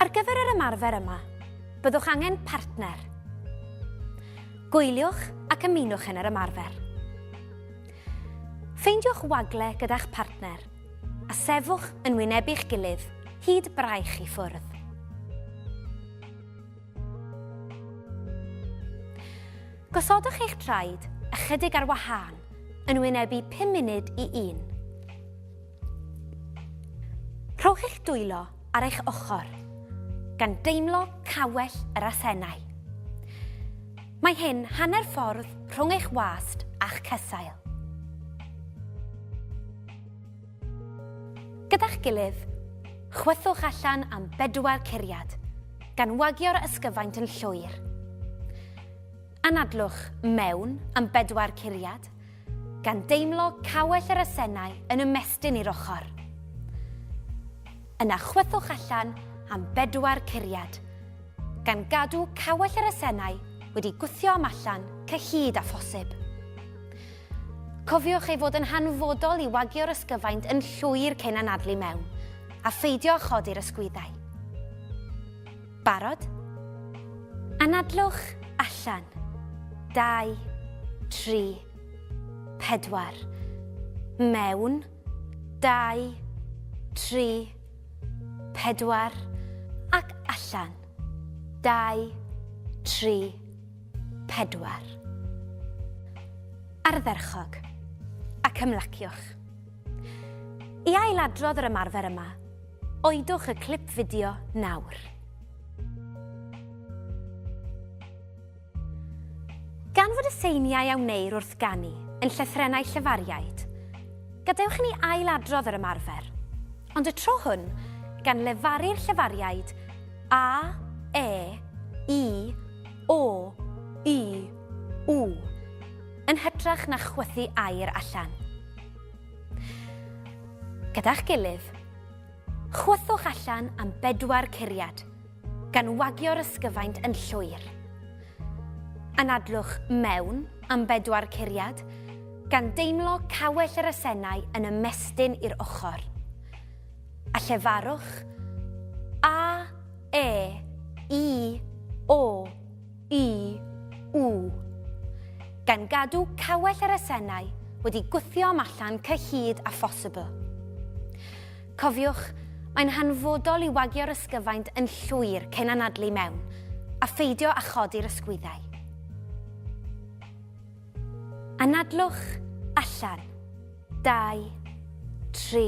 Ar gyfer yr ymarfer yma, byddwch angen partner. Gwyliwch ac ymunwch yn yr ymarfer. Ffeindiwch wagle gyda'ch partner a sefwch yn wynebu'ch gilydd hyd braich i ffwrdd. Gosodwch eich traed ychydig ar wahân yn wynebu 5 munud i un. Rhowch eich dwylo ar eich ochr, gan deimlo cawell yr asennau. Mae hyn hanner ffordd rhwng eich wast a'ch cesail. Gyda'ch gilydd, chwythwch allan am bedwar curiad, gan wagio'r ysgyfaint yn llwyr. Anadlwch mewn am bedwar curiad, gan deimlo cawell yr asennau yn ymestyn i'r ochr. Yna chwythwch allan am bedwar curiad, gan gadw cawell yr asennau wedi gwthio am allan cyhyd â phosib. Cofiwch ei fod yn hanfodol i wagio'r ysgyfaint yn llwyr cyn anadlu mewn, a pheidio â chodi'r ysgwyddau. Barod? Anadlwch allan. Dau, tri, pedwar. Mewn. Dau, tri, pedwar. Ac allan. Dau, tri, pedwar. Ardderchog. Ac ymlaciwch. I ailadrodd yr ymarfer yma, oedwch y clip fideo nawr. Gan fod y seiniau a wneir wrth ganu yn llythrennau llefariaid, gadewch i ni ailadrodd yr ymarfer, ond y tro hwn gan lefaru'r llefariaid A, E, I, O, U, U, yn hytrach na chwythu air allan. Gyda'ch gilydd, chwythwch allan am bedwar curiad, gan wagio'r ysgyfaint yn llwyr. Anadlwch mewn am bedwar curiad, gan deimlo cawell yr asennau yn ymestyn i'r ochr. A llefarwch A, E, I, O, Y, w. Gan gadw cawell yr asennau wedi gwthio am allan cyhyd a phosibl. Cofiwch, mae'n hanfodol i wagio'r ysgyfaint yn llwyr cyn anadlu mewn, a pheidio â chodi'r ysgwyddau. Anadlwch allan. Dau, tri,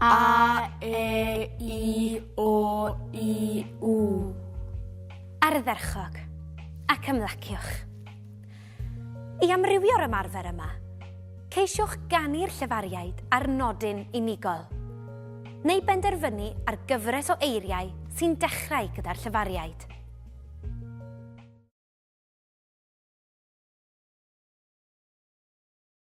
A, E, I, O, I, U. Ardderchog, ac ymlaciwch. I amrywio'r ymarfer yma, ceisiwch ganu'r llefariaid ar nodyn unigol, neu benderfynu ar gyfres o eiriau sy'n dechrau gyda'r llefariaid.